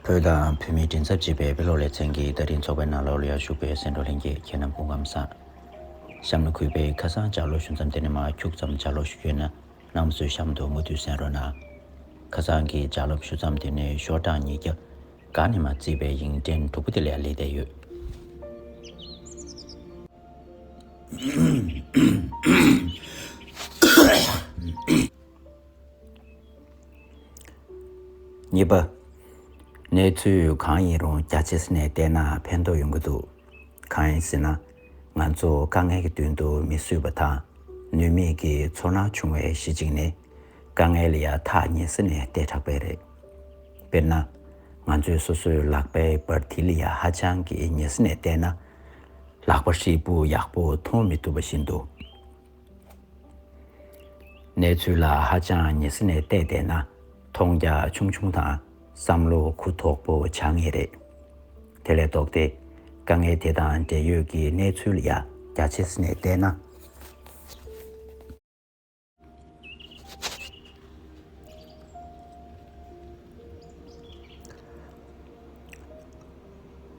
བོད་དང་བོད་མིའི་མགྲིན་ཚབ་བྱེད་པའི་དཔེ་ཀློག་ལེ་ཚན་གྱི་བརྡ་འཕྲིན་ཚོགས་པའི་ནང་ཀློག་གླུ་ཡར་ཞུགས་པའི་སེང་འབྲོག་ལྷན་རྒྱས་ཁྱེད་རྣམས་དགུང་ཁམས་བཟངབྱམས་ལ་གུས་པས་ཁ་སང་ལྕགས་ཀློག་ཞུ་མཚམས་དེ་ནས་མ་འཁྱུག་ཙམ་ལྕགས་ཀློག་ཞུ་རྒྱུ་ན་ནམ་ཚོད་གཤམ་དུ་མུ་མཐུད་གསན་རོགས་གནང། ཁ་སང་གི་ལྕགས་ལབ་ཞུ་མཚམས་དེ་ནས་ཤོག་གྲངས་ཉིས་བརྒྱ་གང་ནས་མ་བརྩིས་པའི་ཡིག་འབྲེལ་དྲུག་པོ་དེ་ལས་ལེགས་བསྡད་ཡོད། གཉིས་པ། གནས་ཚུལ་གང་ཡིན་རུང་རྒྱ་ཆེ་ས་ནས་བལྟས་ན་ཕན་ཐོགས་ཡོང་གི་འདུག་གང་ཡིན་ཟེར་ན། ང་ཚོ་དཀའ་ངལ་གྱི་མདུན་དུ་མི་བསུས་པ་དང་ནུས་མེད་ཀྱི་ཚོར་སྣང་བྱུང་བའི་གཞི་གཅིག་ནི། དཀའ་ངལ་ཡ་ཐག་ཉེ་ས་ནས་བལྟས་དྲགས་པས་རེད། དཔེར་ན། ང་ཚོས་སོ་སོའི་ལག་པའི་སྦར་མཐིལ་ཡ་ཧ་ཅང་གི་ཉེ་ས་ནས་བལྟས་ན། ལག་པ་ཧྲིལ་པོ་ཡག་པོ་མཐོང་མི་ཐུབ་པ་བཞིན་དུ། གནས་ཚུལ་ལ་ཧ་ཅང་ངེས་ཟིན་ནས་བལྟས་བསྡད་ན་མཐོང་རྒྱ་ཆུང་ཆུང་དང་བསམ་བློ་གུ་དོག་པོ་བྱ་ངེས་རེད། དེ་ལས་ལྡོག་སྟེ་དཀའ་ངལ་དེ་དང་འབྲེལ་ཡོད་ཀྱི་གནས་ཚུལ་ཡ་རྒྱ་ཆེ་ཟིན་ནས་བལྟས་ན།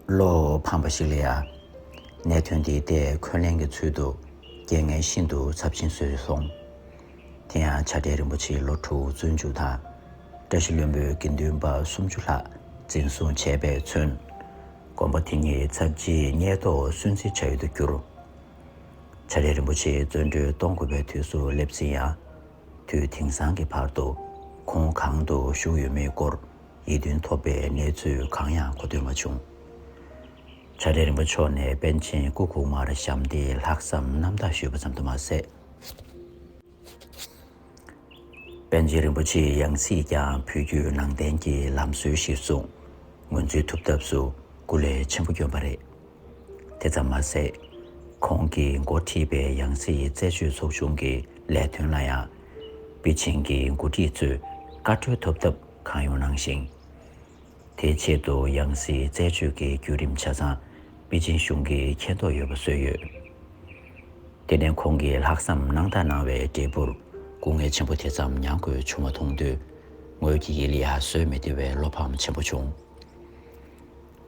བློ་ཕམ་པ་ཞིག་ལ་ཡང། གནད་དོན་དེའི་ཐད་འཁོན་ལན་གྱི་ཚུལ་དུ་རྐྱེན་ངན་ཤིན་ཏུ་ཚབས་ཆེན་བཟོས་སོང། དེ་ཡང་བྱ་བྲལ་རིན་པོ་ཆེའི་ལོ་དྲུག་བཙོན་འཇུག་དང། བཀྲ་ཤིས་བློན་པོའི་དགེ་འདུན་པ་སུམ་ཅུ་ལྷག་འཛིན་བཟུང་བྱས་པས་མཚོན། དགོན་པ་དེ་ཉིད་ཚབས་རྗེས་སྙེག་ཐོག་སུན་གཙེར་བྱ་ཡུལ་དུ་གྱུར། བྱ་བྲལ་རིན་པོ་ཆེ་བཙོན་གྲོལ་གཏོང་དགོས་པའི་དུས་སུ་སླེབས་ཟིན་ཡང། དུས་དེང་སང་གི་བར་དུ་ཁོང་གང་དུ་བཞུགས་ཡོད་མེད་སྐོར་ཡིད་རྟོན་ཐོབ་པའི་གནས་ཚུལ་གང་ཡང་གོ་ཐོས་མ་བྱུང། བྱ་བྲལ་རིན་པོ་མཆོག་ནས་པཎ་ཆེན་སྐུ་གོང་མར་ཞབས་འདེགས་ལྷག་བསམ་རྣམ་དག་ཞུས་པ་ཙམ་དུ་མ་ཟད། པཎ་ཆེན་རིན་པོ་ཆེའི་ཡང་སྲིད་ཀྱང་ཕུལ་རྒྱུའི་ནང་བསྟན་གྱི་ལམ་སྲོལ་གཞིར་བཟུང་ངོས་འཛིན་ཐུབ་ཐབས་སུ་སྐུ་ལས་ཆེན་པོ་བསྐྱོན་པ་རེད། དེ་ཙམ་མ་ཟད། ཁོང་གིས་འགོ་ཁྲིད་པའི་ཡང་སྲིད་རྩད་གཅོད་ཚོགས་ཆུང་གི་ལས་དོན་ལ་ཡང། པེ་ཅིང་གི་འགོ་ཁྲིད་ཚོས་བཀའ་འཁྲོལ་ཐོབ་ཐབས་གང་ཡོང་གནང་ཞིང། དེའི་ཆེད་དུ་ཡང་སྲིད་རྩད་གཅོད་ཀྱི་བརྒྱུད་རིམ་ཆ་ཚང་པེ་ཅིང་གཞུང་གིས་མཁྱེན་རྟོགས་ཡོད་པ་བཟོས་ཡོད། དེ་ནས་ཁོང་གིས་ལྷག་བསམ་རྣམ་དག་གནང་བའི་འབྲས་བུར་སྐུ་ངལ་ཆེན་པོ་དེ་ཙམ་མྱང་དགོས་བྱུང་བ་མཐོང་དུས། ངོས་ཀྱི་ཡིད་ལ་ཡ་བཟོད་མི་བདེ་བའི་བློ་ཕམ་ཆེན་པོ་བྱུང།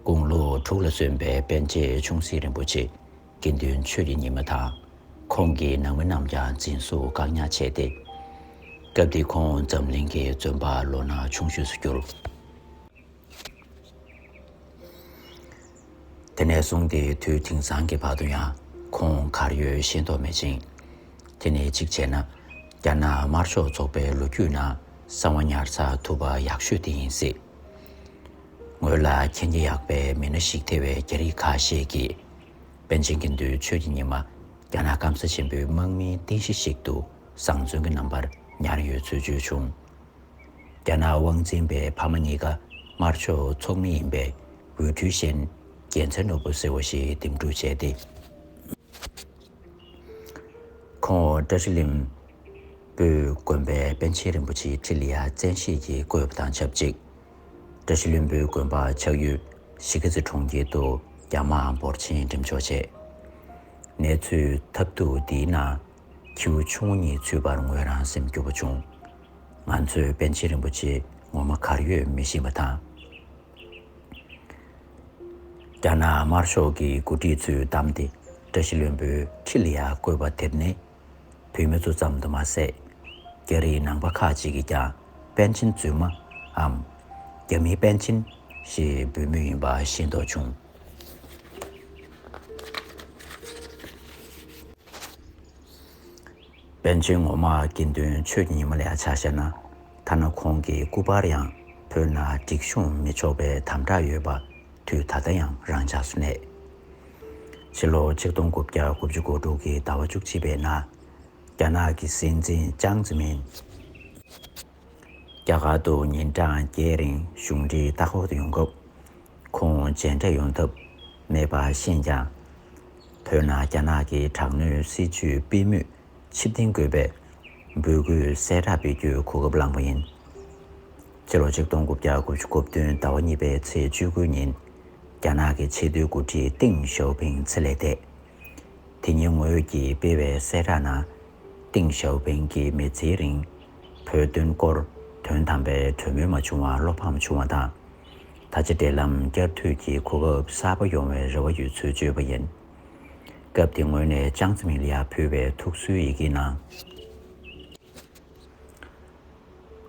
དགུང་ལོ་དྲུག་ལ་སོན་པའི་པན་ཆེན་ཆུང་སྲིད་རིན་པོ་ཆེས་དགེ་འདུན་ཆོས་ཀྱི་ཉི་མ་དང་ཁོང་གི་ནང་མི་རྣམས་ཀྱང་འཛིན་བཟུང་བཀག་ཉར་བྱས་ཏེ། སྐབས་དེ་ཁོང་འཛམ་གླིང་གི་བཙོན་པ་ལོ་ན་ཆུང་ཤོས་སུ་གྱུར། དེ་ནས་བཟུང་སྟེ་དུས་དེང་སང་གི་བར་དུ་ཡང་ཁོང་གར་ཡོད་ཤེས་རྟོགས་མེད་ཅིང། དེ་ནི་གཅིག་བྱས་ན་རྒྱ་ནག་དམར་ཕྱོགས་ཚོགས་པའི་ལོ་རྒྱུས་ནང་གསང་བ་ཉར་ཚགས་ཐུབ་པ་ཡག་ཤོས་དེ་ཡིན་སྲིད། ངོས་ལ་མཁྱེན་རྒྱ་ཡག་པའི་མི་སྣ་ཞིག་ཐེ་བའི་རྒྱ་རིགས་ཁ་ཤས་ཀྱིས། པཎ་ཆེན་དགེ་འདུན་ཆོས་ཀྱི་ཉི་མ་རྒྱ་ནག་སྐམ་ས་ཆེན་པོའི་དམག་མིའི་རྟེན་གཞི་ཞིག་ཏུ་བཟང་བཙོན་གྱི་རྣམ་པར་ཉར་ཡོད་ཚུལ་བརྗོད་བྱུང། རྒྱ་ནག་དབང་འཛིན་པའི་ཕ་མ་གཉིས་ཀ་དམར་ཕྱོགས་ཚོགས་མི་ཡིན་པའི་འོས་འཕྲུལ་ཤན་རྒྱལ་མཚན་ནོར་བུ་ཟེར་བ་ཞིག་འདེམས་སྒྲུག་བྱས་ཏེ། ཁོང་འོག་བཀྲ་ཤིས་གླིང་སྤོས་དགོན་པའི་པཎ་ཆེན་རིན་པོ་ཆེའི་ཁྲི་ལི་ཡ་བཙན་ཤེད་ཀྱིས་བསྐོས་པ་དང་ཆབས་ཅིག་བཀྲ་ཤིས་གླིང་སྤོས་དགོན་པ་ཆགས་ཡུལ་གཞིས་ཀ་རྩེ་གྲོང་ཁྱེར་དུ་རྒྱ་དམག་འབོར་ཆེན་འགྲེམས་འཇོག་བྱས། གནས་ཚུལ་ཐབས་སྡུག་འདིའི་ནང་ཁྱེའུ་ཆུང་ངུ་གཉིས་ཚུད་པར་ངོས་རང་སེམས་སྐྱོ་བོ་བྱུང། ང་ཚོས་པཎ་ཆེན་རིན་པོ་ཆེ་ངོ་མ་གར་ཡོད་མི་ཤེས་པ་དང། རྒྱ་ནག་དམར་ཤོག་གི་འགོ་ཁྲིད་ཚོས་བདམས་ཏེ་བཀྲ་ཤིས་བློན་པོའི་ཁྲི་ལ་ཡར་བསྐོས་པ་དེར་ནི་བོད་མི་ཚོ་ཙམ་དུ་མ་ཟད། རྒྱ་རིགས་ནང་པ་ཁག་ཅིག་གིས་ཀྱང་པཎ་ཆེན་རྫུན་མའམ། རྒྱ་མིའི་པཎ་ཆེན། ཞེས་འབོད་མུས་ཡིན་པ་ཤེས་མདོག་བྱུང། པཎ་ཆེན་ངོ་མ་དགེ་འདུན་ཆོས་ཀྱི་ཉི་མ་ལས་ཆ་བཤད་ན་ཐ་ན་ཁོང་གི་སྐུ་པར་ཡང་བོད་ན་སྒྲིག་གཤོངས་མི་ཆོག་པའི་དམ་དྲག་ཡོད་པ་དུས་ད་ལྟ་ཡང་རང་འཇགས་སུ་གནས། ཕྱི་ལོ་ཆིག་སྟོང་དགུ་བརྒྱ་དགུ་བཅུ་གོ་དྲུག་གི་ཟླ་བ་བཅུ་གཅིག་པའི་ནང་རྒྱ་ནག་གི་སྲིད་འཛིན་ཅང་ཙི་མིན། རྒྱ་གར་དུ་ཉིན་གྲངས་བརྒྱད་རིང་གཞུང་འབྲེལ་ལྟ་སྐོར་དུ་ཡོང་སྐབས། ཁོང་མཇལ་འཕྲད་ཡོང་ཐབས་མེད་པ་ཤེས་ཀྱང། བོད་ནང་རྒྱ་ནག་གི་དྲག་གནོན་སྲིད་ཇུས་སྤེལ་མུས་ཕྱིར་འཐེན་དགོས་པའི་འབོད་སྐུལ་གསལ་བསྒྲགས་སྤེལ་རྒྱུའི་གོ་སྐབས་བླངས་པ་ཡིན། སྤྱི་ལོ་ཆིག་སྟོང་དགུ་བརྒྱ་དགུ་ཅུ་དགུ་བདུན་ཟླ་བ་གཉིས་པའི་ཚེས་བཅུ་དགུའི་ཉིན། རྒྱ་ནག་གི་ཆེས་མཐོའི་འགོ་ཁྲིད་ཏིང་ཞའོ་ཕིང་ཚེ་ལས་འདས། དེ་ཉིན་ངོས་ཀྱིས་སྤེལ་བའི་གསལ་བསྒྲགས་ནང། ཏིང་ཞའོ་ཕིང་གི་མི་ཚེའི་རིང། བོད་དོན་སྐོར་དོན་དམ་པའི་གྲོས་མོལ་མ་བྱུང་བར་བློ་ཕམ་བྱུང་བ་དང། ད་ཆ་འབྲེལ་ལམ་བསྐྱར་མཐུད་ཀྱི་གོ་སྐབས་གསར་པ་ཡོང་བའི་རེ་བ་ཡོད་ཚུལ་བརྗོད་པ་ཡིན། སྐབས་དེ་ངོས་ནས་ཅང་ཙེ་མིང་ལི་ཡར་ཕུལ་བའི་ཐུགས་གསོའི་ཡི་གེའི་ནང།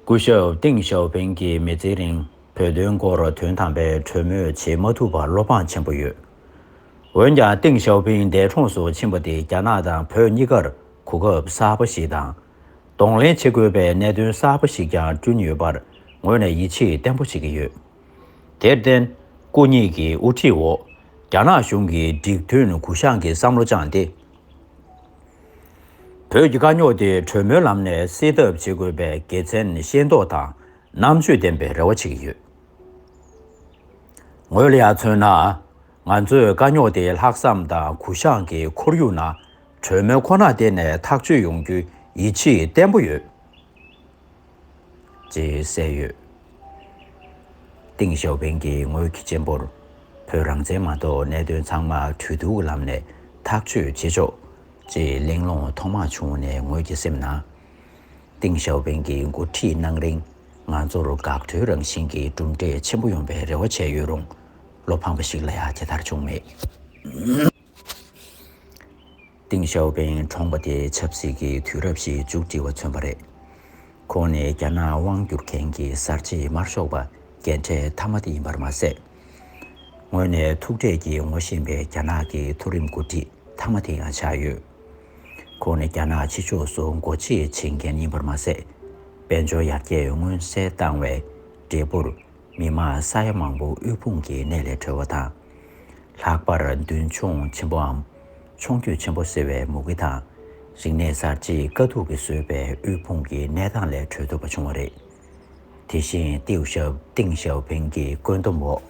སྐུ་ཞབས་ཏིང་ཞའོ་ཕིང་གིས་མི་ཚེའི་རིང་བོད་དོན་སྐོར་དོན་དམ་པའི་གྲོས་མོལ་བྱེད་མ་ཐུབ་པར་བློ་ཕངས་ཆེན་པོ་ཡོད། འོན་ཀྱང་ཏིང་ཞའོ་ཕིང་འདས་གྲོངས་སུ་ཕྱིན་པ་དེ་རྒྱ་ནག་དང་བོད་གཉིས་ཀར་གོ་སྐབས་གསར་པ་ཞིག་དང། གདོང་ལེན་བྱེད་དགོས་པའི་གནད་དོན་གསར་པ་ཞིག་ཀྱང་བསྐྲུན་ཡོད་པར་ངོས་ནས་ཡིད་ཆེས་བརྟན་པོ་བྱེད་ཀྱི་ཡོད། དེར་བརྟེན། སྐུ་ཉིད་ཀྱི་དབུ་ཁྲིད་འོག་རྒྱ་ནག་གཞུང་གིས་འགྲིག་མཐུན་གུ་བཤངས་ཀྱི་བསམ་བློ་བཅངས་ཏེ་བོད་ཀྱི་དཀའ་རྙོག་དེ་གྲོས་མོལ་ལམ་ནས་སེལ་ཐབས་བྱེད་དགོས་པའི་དགེ་མཚན་ཤེས་མདོག་དང་རྣམ་དཔྱོད་ལྡན་པའི་རེ་བ་བྱེད་ཀྱི་ཡོད། ངོས་ལ་ཡང་མཚོན་ན། ང་ཚོས་དཀའ་རྙོག་དེ་ལྷག་བསམ་དང་གུ་བཤངས་ཀྱི་ཁོར་ཡུག་ནང་གྲོས་མོལ་ཁོ་ན་བརྟེན་ནས་ཐག་གཅོད་ཡོང་རྒྱུའི་ཡིད་ཆེས་བརྟན་པོ་ཡོད། ཅེས་གསལ་ཡོད། ཏིང་ཞའོ་ཕིང་གིས་ངོས་ཀྱི་གཅེན་པོར་བོད་རང་བཙན་མ་གཏོགས་གནད་དོན་ཚང་མ་གྲོས་བསྡུར་གྱི་ལམ་ནས་ཐག་གཅོད་བྱེད་ཆོག་ཅེས་གླེང་སློང་ཐོག་མ་བྱུང་ནས་ངོས་ཀྱི་སེམས་ནང། ཏིང་ཞའོ་ཕིང་གིས་འགོ་ཁྲིད་གནང་རིང་ང་ཚོར་འགག་སྒྲོལ་རང་བཞིན་གྱི་གྲུབ་འབྲས་ཆེན་པོ་ཡོང་པའི་རེ་བ་བྱས་ཡོད་རུང་བློ་ཕམ་པ་ཞིག་ལ་ཡང་དེ་ལྟར་བྱུང་མེད། ཏིང་ཞའོ་པེན་གྲོངས་པ་དེ་ཆབ་སྲིད་ཀྱི་དུས་རབས་ཤིག་མཇུག་སྒྲིལ་བ་མཚོན་པ་རེད། ཁོང་ནི་རྒྱ་ནག་དབང་བསྒྱུར་མཁན་གྱི་གསར་བརྗེའི་དམར་ཤོག་པ་རྒན་གྲས་མཐའ་མ་དེ་ཡིན་པར་མ་ཟད། ངོས་ནས་ཐུག་འཕྲད་ཀྱིས་ངོ་ཤེས་པའི་རྒྱ་ནག་གི་མཐོ་རིམ་འགོ་ཁྲིད་མཐའ་མ་དེ་ཡང་ཆགས་ཡོད། ཁོང་ནི་རྒྱ་ནག་ཕྱི་ཕྱོགས་སུ་འགོ་འཁྲིད་བྱེད་མཁན་ཡིན་པར་མ་ཟད། དཔལ་འབྱོར་ཡར་རྒྱས་མངོན་གསལ་བཏང་བའི་འབྲས་བུར་མི་དམངས་ས་ཡ་མང་པོ་དབུལ་ཕོངས་ཀྱི་གནས་ལས་གྲོལ་བ་དང། ལྷག་པར་མདུན་མཆོང་ཆེན་པོའམ་མཆོང་སྐྱོད་ཆེན་པོ་ཟེར་བའི་མུ་གེ་དང། རིག་གནས་གསར་བརྗེས་དཀའ་སྡུག་གིས་བཟོས་པའི་དབུལ་ཕོངས་ཀྱི་གནས་སྟངས་ལས་གྲོལ་ཐུབ་པ་བྱུང་བ་རེད། དེ་བཞིན་ཏེའུ་ཞའོ་ཏིང་ཞའོ་ཕིང་གི་བཀོད་འདོམས་འོག་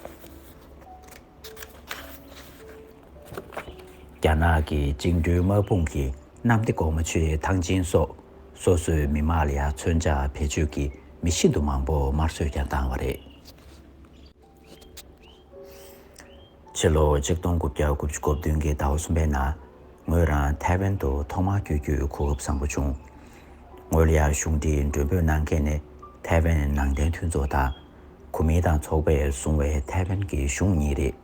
རྒྱ་ནག་གི་བཅིངས་འགྲོལ་དམག་དཔུང་གི་གནམ་བདེ་འགོག་མ་ཆུའི་ཐང་ཆེན་སོགས་སོ་སོའི་མི་དམངས་ལ་ཡར་མཚོན་ཆ་བེད་སྤྱོད་ཀྱིས་མི་ཤིན་ཏུ་མང་པོ་དམར་གསོད་ཀྱང་བཏང་བ་རེད། ཕྱི་ལོ་ཆིག་སྟོང་དགུ་བརྒྱ་དགུ་བཅུ་གོ་བདུན་གྱི་ཟླ་བ་གསུམ་པའི་ནང། ངོས་རང་ཐའེ་ཝན་དུ་ཐོག་མར་བསྐྱོད་རྒྱུའི་གོ་སྐབས་བཟང་པོ་བྱུང། ངོས་ལ་གཞུང་འབྲེལ་མགྲོན་འབོད་གནང་མཁན་ནི་ཐའེ་ཝན་ནང་བསྟན་མཐུན་ཚོགས་དང། གོ་མིན་ཏང་ཚོགས་པས་བཟུང་བའི་ཐའེ་ཝན་གྱི་གཞུང་གཉིས་རེད།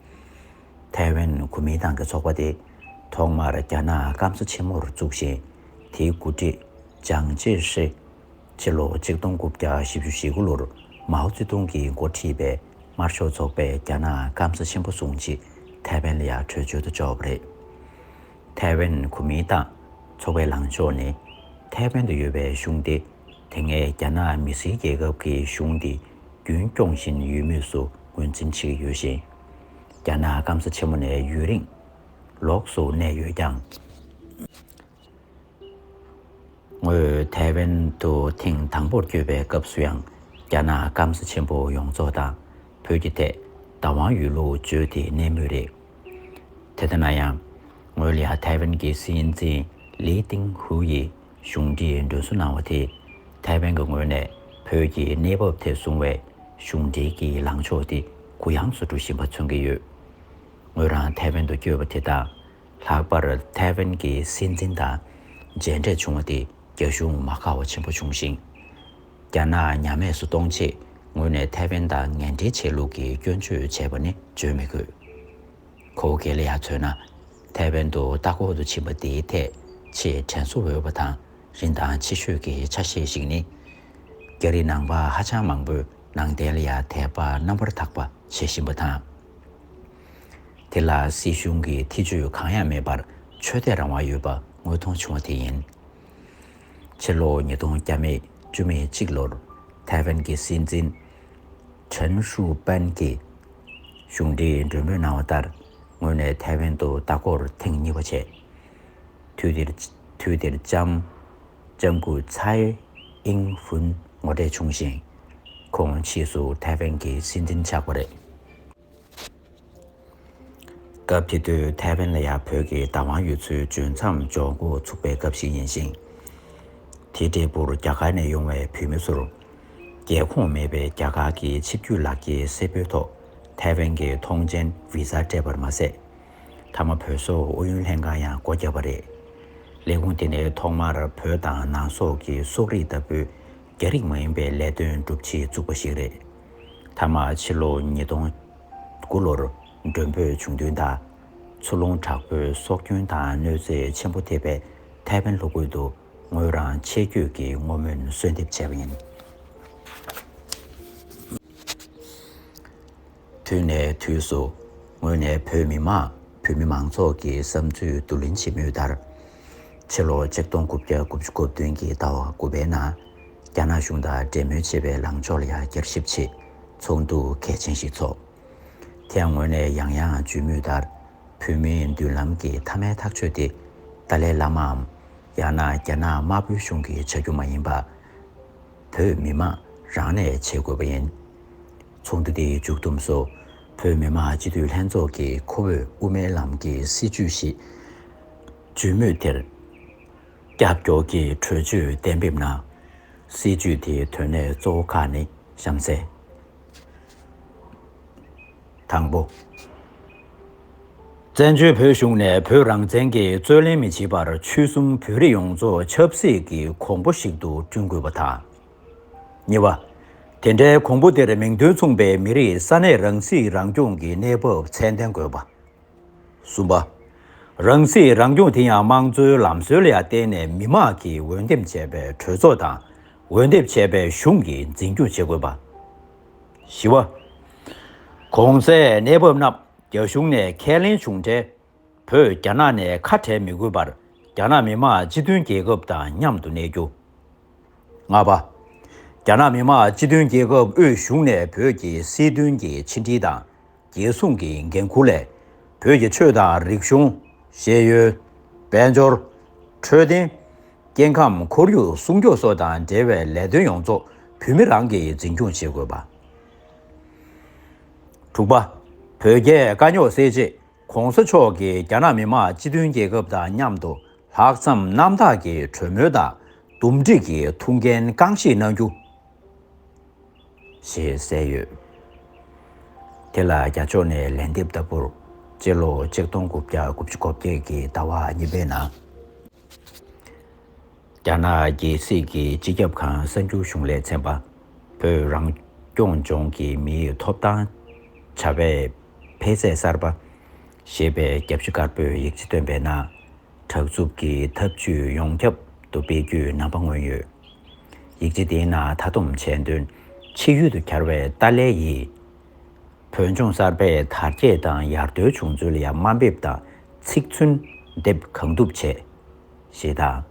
ཐའེ་ཝན་གོ་མིན་ཏང་གི་ཚོགས་པ་དེ་ཐོག་མར་རྒྱ་ནག་སྐམ་ས་ཆེན་མོར་བཙུགས་ཤིང་དེའི་འགོ་ཁྲིད་ཅང་ཅེ་ཧྲི། ཕྱི་ལོ་ཆིག་སྟོང་དགུ་བརྒྱ་བཞི་བཅུ་ཞེ་དགུ་ལོར་མའོ་ཙེ་ཏུང་གིས་མགོ་ཁྲིད་པའི་དམར་ཤོག་ཚོགས་པས་རྒྱ་ནག་སྐམ་ས་ཆེན་པོ་བཟུང་རྗེས་ཐའེ་ཝན་ལ་ཡང་བྲོས་བྱོལ་དུ་བཅུག་པ་རེད། ཐའེ་ཝན་གོ་མིན་ཏང་ཚོགས་པའི་ལངས་ཕྱོགས་ནི། ཐའེ་ཝན་དུ་ཡོད་པའི་གཞུང་དེ་དེ་སྔའི་རྒྱ་ནག་མི་སེར་རྒྱལ་ཁབ་ཀྱི་གཞུང་དེ་རྒྱུན་སྐྱོང་བཞིན་ཡོད་མུས་སུ་ངོས་འཛིན་བྱེད་ཀྱི་ཡོད་ཞིང། རྒྱ་ནག་སྐམ་ས་ཆེན་མོ་ནས་ཡུན་རིང་ལོགས་སུ་གནས་ཡོད་ཀྱང། ངོས་ཐའེ་ཝན་དུ་ཐེངས་དང་པོར་བསྐྱོད་པའི་སྐབས་སུ་ཡང་རྒྱ་ནག་སྐམ་ས་ཆེན་པོ་ཡོངས་རྫོགས་དང་བོད་ཀྱི་ཐད་བདག་དབང་ཡོད་ལུགས་བརྗོད་དེ་གནས་མུས་རེད། དེ་ལྟ་ན་ཡང། ངོས་ལ་ཐའེ་ཝན་གྱི་སྲིད་འཛིན་ལི་ཏིང་ཧུའུ་ཡིས་གཞུང་འབྲེལ་མགྲོན་བསུ་གནང་བ་དེ་ཐའེ་ཝན་གྱི་ངོས་ནས་བོད་ཀྱི་གནས་བབ་ཐད་བཟུང་བའི་གཞུང་འབྲེལ་གྱི་ལངས་ཕྱོགས་དེ་གུ་ཡངས་སུ་འགྲོ་བཞིན་པ་མཚོན་གྱི་ཡོད། ངོས་རང་ཐའེ་ཝན་དུ་བསྐྱོད་པ་དེ་དང། ལྷག་པར་ཐའེ་ཝན་གྱི་སྲིད་འཛིན་དང་མཇལ་འཕྲད་བྱུང་བ་དེས་རྒྱ་གཞུང་མ་དགའ་བ་ཆེན་པོ་བྱུང་ཞིང། རྒྱ་ནག་ཉམས་དམས་སུ་གཏོང་ཆེད་ངོས་ནས་ཐའེ་ཝན་དང་ངན་འབྲེལ་བྱས་ལུགས་ཀྱི་སྐྱོན་བརྗོད་བྱས་པ་ནི་བརྗོད་མི་དགོས། ཁོ་བོ་གལ་ལེ་ཡ་མཚོན་ན། ཐའེ་ཝན་དུ་ལྟ་སྐོར་དུ་ཕྱིན་པ་དེའི་ཐད་ཆེས་དྲན་གསོ་འོས་པ་དང་རིན་ཐང་ཆེ་ཤོས་ཀྱི་ཆ་ཤས་ཤིག་ནི། རྒྱ་རིགས་ནང་པ་ཧ་ཅང་མང་པོས་ནང་བསྟན་ལ་ཡང་དད་པ་རྣམ་པར་དག་པ་བྱེད་བཞིན་པ་དང། དེ་ལ་སྲིད་གཞུང་གི་ཐེ་ཇུས་གང་ཡང་མེད་པར་ཆོས་དད་རང་དབང་ཡོད་པ་དངོས་མཐོང་བྱུང་བ་དེ་ཡིན། ཕྱི་ལོ་ཉིས་སྟོང་བརྒྱ་མེད་བཅུ་མེད་གཅིག་ལོར་ཐའེ་ཝན་གྱི་སྲིད་འཛིན་ཁྲེན་ཧྲུའུ་པན་གྱིས་གཞུང་འབྲེལ་མགྲོན་འབོད་གནང་བ་ལྟར་ངོས་ནས་ཐའེ་ཝན་དུ་ལྟ་སྐོར་ཐེངས་གཉིས་པ་བྱས། དུས་དེར་དུས་དེར་ལྕམ་ལྕམ་སྐུ་ཚའེ་ཨིན་ཝུན་ངོ་འཕྲད་བྱུང་ཞིང། ཁོང་ཕྱིས་སུ་ཐའེ་ཝན་གྱི་སྲིད་འཛིན་ཆགས་པ་རེད། སྐབས་དེ་དུས་ཐའེ་ཝན་ལ་ཡང་བོད་ཀྱི་བདག་དབང་ཡོད་ཚུལ་བརྗོད་མཚམས་འཇོག་འགོ་ཚུགས་པའི་སྐབས་ཤིག་ཡིན་ཞིང། དེའི་འབྲས་བུར་རྒྱ་གར་ནས་ཡོང་བའི་བོད་མི་ཚོར། རྒྱལ་ཁོངས་མེད་པའི་རྒྱ་གར་གྱི་ཆིབས་བརྒྱུད་ལག་འཁྱེར་གསལ་པོའི་ཐོག་ཐའེ་ཝན་གྱི་ཐོངས་མཆན Visa སྤྲད་པར་མ་ཟད། མཐའ་མ་བོད་སོག་ཨུ་ཡོན་ལྷན་ཁང་ཡང་སྒོ་བརྒྱབ་པ་རེད། ལས་ཁུངས་དེ་ནི་ཐོག་མར་བོད་དང་ནང་སོག་གི་སོག་རིགས་ལྟ་བུའི་རྒྱ་རིགས་མ་ཡིན་པའི་ལས་དོན་སྒྲུབ་ཆེད་བཙུགས་པ་ཞིག་རེད། མཐའ་མ་ཕྱི་ལོ་ཉིས་སྟོང་དགུ་ལོར་མགྲོན་འབོད་བྱུང་དོན་དང། མཚོ་རླུང་དྲག་པོའི་སྲོག་སྐྱོན་དང་གནོད་འཚེ་ཆེན་པོ་ཐེབས་པའི་ཐའེ་ཝན་ལྷོ་ཁུལ་དུ་ངོས་རང་ཆེད་བསྐྱོད་ཀྱིས་བསྔོ་སྨོན་གསོལ་འདེབས་བྱས་པ་ཡིན། དུས་ནས་དུས་སུ་ངོས་ནས་བོད་མི་མང་བོད་མི་མང་ཚོགས་ཀྱི་བསམ་ཚུལ་བསྡུ་ལེན་བྱེད་མུས་ལྟར། ཕྱི་ལོ་ཆིག་སྟོང་དགུ་བརྒྱ་དགུ་བཅུ་གོ་བདུན་གྱི་ཟླ་བ་དགུ་པའི་ནང་རྒྱ་ནག་གཞུང་དང་འབྲེལ་མོལ་བྱེད་པའི་ལངས་ཕྱོགས་ལ་བསྐྱར་ཞིབ་ཆེད་ཚོགས་འདུ་གལ་ཆེན་ཞིག་ཚོགས། དེའང་ངོས་ནས་ཡང་ཡང་བརྗོད་མུས་ལྟར་བོད་མིའི་མདུན་ལམ་གྱི་མཐའ་མའི་ཐག་གཅོད་དེ་ཏཱ་ལའི་བླ་མའམ་ཡང་ན་རྒྱ་ནག་དམར་པོའི་གཞུང་གིས་བྱ་རྒྱུ་མ་ཡིན་པར། བོད་མི་མང་རང་ནས་བྱེད་དགོས་པ་ཡིན། ཚོགས་འདུ་དེའི་མཇུག་བསྡོམས་སུ་བོད་མི་མང་སྤྱི་འཐུས་ལྷན་ཚོགས་ཀྱིས་ཁོ་བོས་དབུ་མའི་ལམ་གྱི་སྲིད་བྱུས་ཤིག། བརྗོད་མུས་དེར། ཀྱག་ཀྱོག་གི་གྲོས་ཆོད་གཏན་འབེབས་ན། སྲིད་ཇུས་དེའི་དོན་གནད་གཙོ་བོ་ཁག་ནི་གཤམ་གསལ། དང་པོ། བཙན་བྱོལ་བོད་གཞུང་ནས་བོད་རང་བཙན་གྱི་རྩོད་ལེན་མི་བྱེད་པར་ཆོལ་གསུམ་བོད་རིགས་ཡོངས་རྫོགས་ཆབ་སྲིད་ཀྱི་གོང་བུ་ཞིག་ཏུ་བསྐྲུན་དགོས་པ་དང། གཉིས་པ། དེ་འདྲའི་གོང་བུ་དེར་མིང་དོན་མཚུངས་པའི་མི་རིགས་ས་གནས་རང་སྲིད་རང་སྐྱོང་གི་གནས་བབ་ཚད་ལྡན་དགོས་པ། གསུམ་པ། རང་སྲིད་རང་སྐྱོང་དེ་ཡང་དམངས་གཙོའི་ལམ་སྲོལ་ལ་བརྟེན་ནས་མི་དམངས་ཀྱིས་འོས་འདེམས་བྱས་པའི་གྲོས་ཚོགས་དང་འོས་འདེབས་བྱས་པའི་གཞུང་གིས་འཛིན་སྐྱོང་བྱེད་དགོས་པ། བཞི་བ། གོང་གསལ་གནས་བབ་རྣམས་རྒྱ་གཞུང་ནས་ཁས་ལེན་བྱུང་འཕྲལ། བོད་རྒྱ་ནག་ནས་ཁ་བྲལ་མི་དགོས་པར་རྒྱ་ནག་མི་དམངས་སྤྱི་མཐུན་རྒྱལ་ཁབ་དང་མཉམ་དུ་གནས་རྒྱུ། ལྔ་པ། རྒྱ་ནག་མི་དམངས་སྤྱི་མཐུན་རྒྱལ་ཁབ་དབུས་གཞུང་ནས་བོད་ཀྱི་སྲིད་དོན་གྱི་ཕྱི་འབྲེལ་དང་རྒྱལ་སྲུང་གི་འགན་འཁུར་ལས། བོད་ཀྱི་ཆོས་དང་རིག་གཞུང། ཤེས་ཡོན། དཔལ་འབྱོར། འཕྲོད་བསྟེན། སྐྱེ་ཁམས་ཁོར་ཡུག་སྲུང་སྐྱོབ་སོགས་དང་འབྲེལ་བའི་ལས་དོན་ཡོངས་རྫོགས་བོད་མི་རང་གིས་འཛིན་སྐྱོང་བྱེད་དགོས་པ། དྲུག་པ། བོད་རྒྱའི་དཀའ་རྙོག་སེལ་ཆེད་གོང་ས་མཆོག་གིས་རྒྱ་ནག་མི་དམངས་སྤྱི་མཐུན་རྒྱལ་ཁབ་དང་མཉམ་དུ་ལྷག་བསམ་རྣམ་དག་གིས་གྲོས་མོལ་དང་འདུམ་འགྲིག་གི་ཐུགས་འགན་རྐང་བཞེས་གནང་རྒྱུ། ཞེས་གསལ་ཡོད། དེ་ལ་རྒྱ་ཕྱོགས་ནས་ལན་འདེབས་ལྟ་བུར་སྤྱི་ལོ་ཆིག་སྟོང་དགུ་བརྒྱ་དགུ་བཅུ་གོ་བརྒྱད་ཀྱི་ཟླ་བ་གཉིས་པའི་ནང། རྒྱ་ནག་རྒྱལ་སྲིད་ཀྱི་སྤྱི་ཁྱབ་ཁང་གསར་འགྱུར་གཞུང་ལས་ཚན་པ། བོད་རང་སྐྱོང་ལྗོངས་ཀྱི་མིའི་ཐོབ་ཐང་བྱ་བའི་འཕེལ་ཚད་གསར་པ། ཞེས་པའི་རྒྱབ་ཕྱི་དཀར་པོའི་ཡིག་ཆ་བཏོན་པའི་ནང། དྲག་རྩུབ་ཀྱི་ཐབས་ཇུས་ཡོངས་ཁྱབ་ཏུ་སྤེལ་རྒྱུའི་རྣམ་པ་མངོན་ཡོད། ཡིག་ཆ་དེའི་ནང་མཐའ་བསྡོམས་བྱས་དོན། ཕྱི་ཡུལ་དུ་གྱར་བའི་ཏཱ་ལའི་ཡིས། བོད་ལྗོངས་གསར་པའི་དར་རྒྱས་དང་ཡར་ཐོན་བྱུང་ཚུལ་ཡང་དམའ་འབེབས་དང་ཚིག་མཚོན་འདེབས་གང་ཐུབ་བྱས། ཞེས་དང།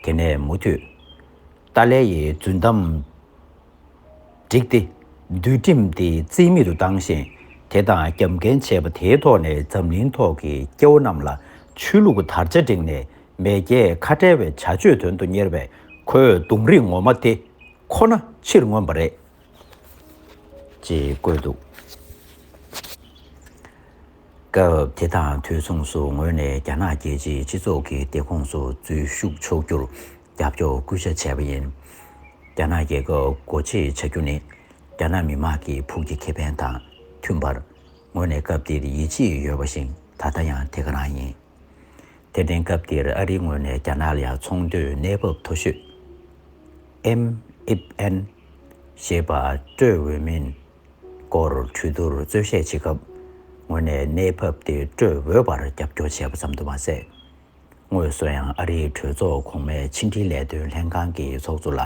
དེ་ནས་མུ་མཐུད། ཏཱ་ལའི་ཡི་རྫུན་གཏམ། བསྒྲིགས་ཏེ། འདུལ་ཁྲིམས་དེ་རྩིས་མེད་དུ་བཏང་ཞིང། དེ་དང་རྒྱབ་འགལ་བྱས་པ་དེའི་ཐོག་ནས་འཛམ་གླིང་ཐོག་གི་སྐྱེ་བོ་རྣམས་ལ་ཆོས་ལུགས་དར་ཆ་བསྒྲེངས་ནས་མེས་རྒྱལ་ཁ་བྲལ་བའི་བྱ་སྤྱོད་དོན་དུ་གཉེར་བའི་ཁོའི་གདུང་རིགས་ངོ་མ་དེ་ཁོ་ན་ཕྱིར་མངོན་པ་རེད། ཅེས་བཀོད་འདུག་སྐབས་དེ་དང་དུས་མཚུངས་སུ་ངོས་ནས་རྒྱ་ནག་རྒྱལ་སྤྱིའི་སྤྱི་ཚོགས་ཀྱི་སྟེགས་ཁོངས་སུ་འཛུལ་ཞུགས་ཆོག་རྒྱུར་རྒྱབ་སྐྱོར་སྐུལ་ལྕག་བྱས་པ་ཡིན། རྒྱ་ནག་རྒྱལ་ཁབ་སྒོ་འབྱེད་བྱ་རྒྱུ་ནི་རྒྱ་ནག་མི་དམངས་ཀྱི་ཕུགས་ཀྱི་ཁེ་ཕན་དང་མཐུན་པར་ངོས་ནས་སྐབས་དེར་ཡིད་ཆེས་ཡོད་པ་བཞིན་ད་ལྟ་ཡང་དེ་ག་རང་ཡིན། དེ་བརྟེན་སྐབས་དེར་ཨ་རིའི་ངོས་ནས་རྒྱ་ནག་ལ་ཡང་ཚོང་དོན་གནས་བབ་མཐོ་ཤོས། MFN། ཞེས་པ་སྤྲོད་འོས་མིན་སྐོར་གྲོས་བསྡུར་རྩོད་བཤད་བྱེད་སྐབས་ངོས་ནས་གནས་བབ་དེ་སྤྲོད་འོས་པར་རྒྱབ་སྐྱོར་བྱས་པ་ཙམ་དུ་མ་ཟད། དངོས་སུ་ཡང་ཨ་རིའི་གྲོས་ཚོགས་གོང་མའི་ཕྱི་འབྲེལ་ལས་དོན་ལྷན་ཁང་གི་ཚོགས་གཙོ་ལ་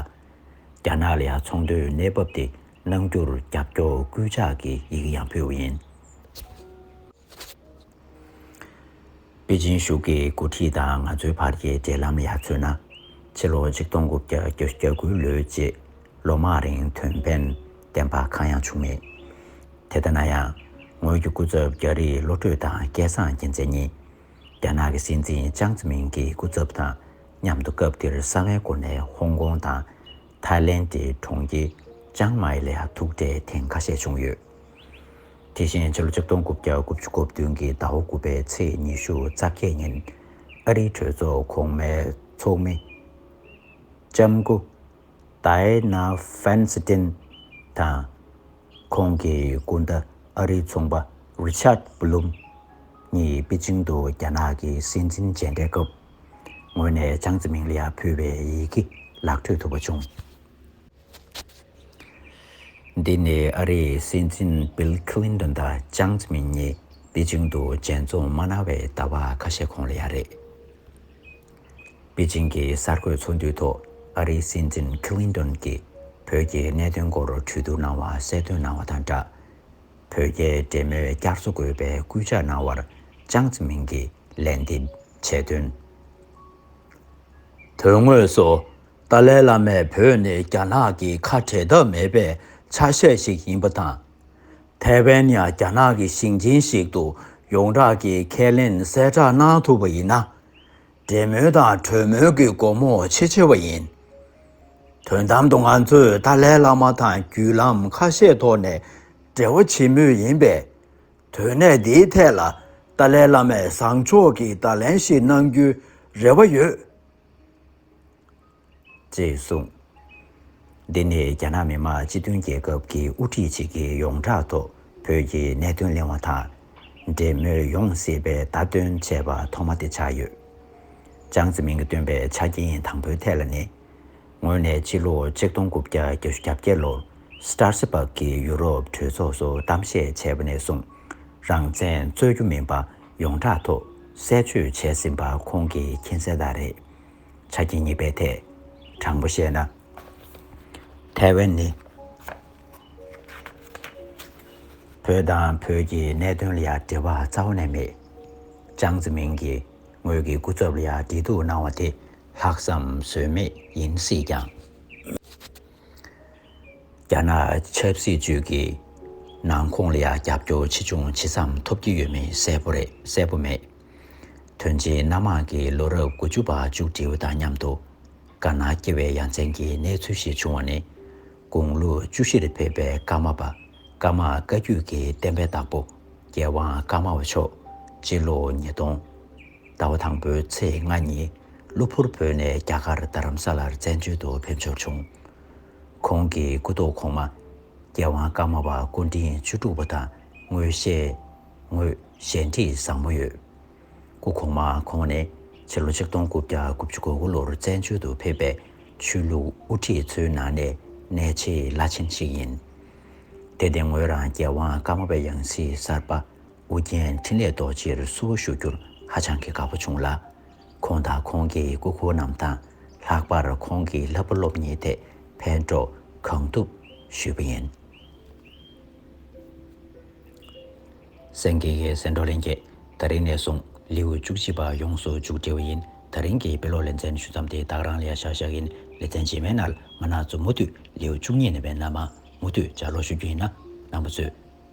རྒྱ་ནག་ལ་ཡང་ཚོང་དོན་གནས་བབ་དེ་གནང་རྒྱུར་རྒྱབ་སྐྱོར་སྐུལ་ལྕག་གི་ཡི་གེ་ཡང་ཕུལ་བ་ཡིན། པེ་ཅིན་གཞུག་གི་འགོ་ཁྲིད་དང་ང་ཚོའི་བར་གྱི་འབྲེལ་ལམ་ཡར་མཚོན་ན། ཕྱི་ལོ་ཆིག་སྟོང་དགུ་བརྒྱ་གྱ་དགུའི་ལོའི་རྗེས་ལོ་མང་རིང་དོན་ཕན་ལྡན་པ་གང་ཡང་བྱུང་མེད། དེ་ལྟ་ན་ཡང། ངོས་ཀྱི་སྐུ་ཚབ་རྒྱ་རིགས་བློ་གྲོས་དང་སྐལ་བཟང་རྒྱལ་མཚན་གཉིས། རྒྱ་ནག་གི་སྲིད་འཛིན་ཅང་ཙེ་མིན་གྱི་སྐུ་ཚབ་དང་མཉམ་དུ་སྐབས་དེར་གསང་བའི་སྒོ་ནས་ཧོང་ཀོང་དང་ཐའི་ལེན་གྱི་གྲོང་ཁྱེར་ཅང་མཱེ་ལ་ཡང་ཐུག་འཕྲད་ཐེངས་ཁ་ཤས་བྱུང་ཡོད། དེ་བཞིན་ཕྱི་ལོ་ཆིག་སྟོང་དགུ་བརྒྱ་དགུ་བཅུ་གོ་བདུན་གྱི་ཟླ་བ་དགུ་པའི་ཚེས་ཉི་ཤུ་རྩ་བརྒྱད་ཉིན་ཨ་རིའི་གྲོས་ཚོགས་གོང་མའི་ཚོགས་མི་ལྕམ་སྐུ་ཏའེ་ན་ཧྥན་སི་ཏིན་དང་ཁོང་གི་སྐུ་ཟླ་ཨ་རིའི་ཚོང་པ་རི་ཆཱད་བྷི་ལུམ་གཉིས་པེ་ཅིང་དུ་རྒྱ་ནག་གི་སྲིད་འཛིན་མཇལ་འཕྲད་སྐབས། ངོས་ནས་ཅང་ཙེ་མིང་ལ་ཡང་ཕུལ་བས་ཡི་གེ་ལག་འཕྲོད་ཐུབ་པ་བྱུང། འདི་ནི་ཨ་རིའི་སྲིད་འཛིན Bill Clinton དང་ཅང་ཙེ་མིང་གཉིས་པེ་ཅིང་དུ་མཇལ་འཛོམས་མ་གནང་བའི་ཟླ་བ་ཁ་ཤས་གོང་ལ་ཡང་རེད། པེ་ཅིང་གི་གསར་འགོད་ཚོགས་འདུའི་ཐོག་ཨ་རིའི་སྲིད་འཛིན Clinton གྱིས་བོད་ཀྱི་གནད་དོན་སྐོར་གྲོས་བསྡུར་གནང་བ་གསལ་སྟོན་གནང་བ་དང་སྦྲགས། བོད་རྒྱའི་འབྲེལ་མོལ་བསྐྱར་གསོ་དགོས་པའི་སྐུལ་ལྕག་གནང་བར་ཅང་ཙེ་མིང་གིས། ལན་འདེབས་བྱས་དོན། དོན་དངོས་སུ་ཏཱ་ལའི་བླ་མས་བོད་ནི་རྒྱ་ནག་གི་ཁ་བྲལ་ཐབས་མེད་པའི་ཆ་ཤས་ཤིག་ཡིན་པ་དང། ཐའེ་ཝན་ཡང་རྒྱ་ནག་གི་ཞིང་ཆེན་ཞིག་ཏུ་ཡོངས་གྲགས་ཀྱིས་ཁས་ལེན་གསལ་བསྒྲགས་གནང་ཐུབ་པ་ཡིན་ན། འབྲེལ་མོལ་དང་གྲོས་མོལ་གྱི་སྒོ་མོ་ཆེས་ཆེ་བ་ཡིན། དོན་དམ་དུ་ང་ཚོས་ཏཱ་ལའི་བླ་མ་དང་བརྒྱུད་ལམ་ཁ་ཤས་ཐོག་ནས་འབྲེལ་བ་བྱེད་མུས་ཡིན་པས། དོན་གནད་འདིའི་ཐད་ལ་ཏཱ་ལའི་བླ་མས་བཟང་ཕྱོགས་ཀྱི་བརྡ་ལན་ཞིག་གནང་རྒྱུའི་རེ་བ་ཡོད། ཅེས་གསུངས། འདི་ནི་རྒྱ་ནག་མི་དམངས་སྤྱི་མཐུན་རྒྱལ་ཁབ་ཀྱི་དབུ་ཁྲིད་ཅིག་གིས་ཡོངས་གྲགས་ཐོག་བོད་ཀྱི་གནད་དོན་གླེང་བ་དང་འབྲེལ་མོས་ཡོང་སྲིད་པའི་བརྡ་སྟོན་བྱས་པ་ཐོག་མ་དེ་ཆགས་ཡོད། ཅང་ཙེ་མིན་གྱིས་བཏོན་པའི་ཆ་རྐྱེན་དང་པོའི་ཐད་ལ་ནི། ངོས་ནས་ཕྱི་ལོ་ཆིག་སྟོང་དགུ་བརྒྱ་གྱ་བཞི་གྱ་བརྒྱད་ལོར Strasbourg གི་ཡུ་རོབ་གྲོས་ཚོགས་སུ་གཏམ་བཤད་བྱས་པ་ནས་བཟུང། རང་བཙན་རྩོད་རྒྱུ་མིན་པ་ཡོངས་གྲགས་ཐོག་གསལ་བརྗོད་བྱས་ཟིན་པ་ཁོང་གི་མཁྱེན་གསལ་དག་རེད། ཆ་རྐྱེན་གཉིས་པའི་ཐད། དྲང་པོ་བཤད་ན། ཐའེ་ཝན་ནི་བོད་དང་བོད་ཀྱི་གནད་དོན་ལ་ཡང་འབྲེལ་བ་རྩ་བ་ནས་མེད། ཅང་ཙེ་མིན་གྱིས་ངོས་ཀྱི་སྐུ་ཚབ་ལ་ཡང་འདྲི་གཏུགས་གནང་བ་དེ་ལྷག་བསམ་ཟོལ་མེད་ཡིན་སྲིད་ཀྱང། རྒྱ་ནག་ཆབ་སྲིད་ཅུས་ཀྱི་ནང་ཁོང་ལ་ཡང་རྒྱབ་སྐྱོར་ཆེ་ཆུང་ཇི་ཙམ་ཐོབ་ཀྱི་ཡོད་མེད་གསལ་པོ་རེད་གསལ་པོ་མེད། དོན་ཆེན་སྣ་མང་གི་ལོ་རབས་དགུ་བཅུ་པ་མཇུག་སྒྲིལ་བ་དང་མཉམ་དུ་དཀར་ནག་སྐྱེ་བའི་ཡ་མཚན་གྱི་གནས་ཚུལ་ཞིག་བྱུང་བ་ནི། དགུང་ལོ་བཅུ་བཞིར་ཕེབས་པའི་ཀརྨ་པ་ཀརྨ་བཀའ་བརྒྱུད་ཀྱི་བསྟན་པའི་བདག་པོ་རྒྱལ་དབང་ཀརྨ་པ་མཆོག་སྤྱི་ལོ་ཉིས་སྟོང་ཟླ་བ་དང་པོའི་ཚེས་ལྔ་ཉིན་གློ་བུར་བོད་ནས་རྒྱ་གར་རྡ་རམ་ས་ལར་བཙན་བྱོལ་དུ་ཕེབས་འབྱོར་བྱུང། ཁོང་གི་སྐུ་ཐོག་གོང་མ། རྒྱལ་དབང་ཀརྨ་པ་སྐུ་འཕྲེང་བཅུ་དྲུག་པ་དང་དངོས་བཤེས། དངོས་བཞེས་འདྲིས་བཟང་པོ་ཡོད། སྐུ་གོང་མ་ཁོང་ནི་ཕྱི་ལོ་ཆིག་སྟོང་དགུ་བརྒྱ་དགུ་བཅུ་གོ་དགུ་ལོར་བཙན་བྱོལ་དུ་ཕེབས་པའི་ཆོས་ལུགས་དབུ་ཁྲིད་ཚོའི་ནང་ནས་གནས་ཆེས་བླ་ཆེན་ཞིག་ཡིན། དེ་སྟེང་ངོས་རང་རྒྱལ་དབང་ཀརྨ་པའི་ཡང་སྲིད་གསར་པ། ཨོ་རྒྱན་འཕྲིན་ལས་རྡོ་རྗེར་བསུ་བ་ཞུ་རྒྱུར་ཧ་ཅང་གི་དགའ་བོ་བྱུང་ལ། ཁོང་དང་ཁོང་གི་སྐུ་འཁོར་རྣམས་དང་ལྷག་པར་ཁོང་གི་ལྷ་བུ་སློབ་གཉེར་ཐེག་ཕན་སྤྲོ་གང་ཐུབ་ཞུས་པ་ཡིན། སེང་གེ་ཡི་སེང་འབྲོག་ལེན་རྒྱས་ད་རིང་ནས་བཟུང་ལེའུ་བཅུ་གཅིག་པ་ཡོངས་སུ་འཇུག་བསྒྲིལ་བ་ཡིན་ད་རིང་གི་དཔེ་ཀློག་ལེ་ཚན་ཞུ་མཚམས་དེ་དག་རང་ལས་ཤག་ཤག་ཡིན་ལེ་ཚན་རྗེས་མའི་ནར་མ་ནག་ཚོ་མུ་མཐུད་ལེའུ་བཅུ་གཉིས་ནས་བས་ན་མ་མུ་མཐུད་སྦྱར་ཀློག་ཞུ་རྒྱུ་ཡིན་ན་ནང་པ་ཚོས།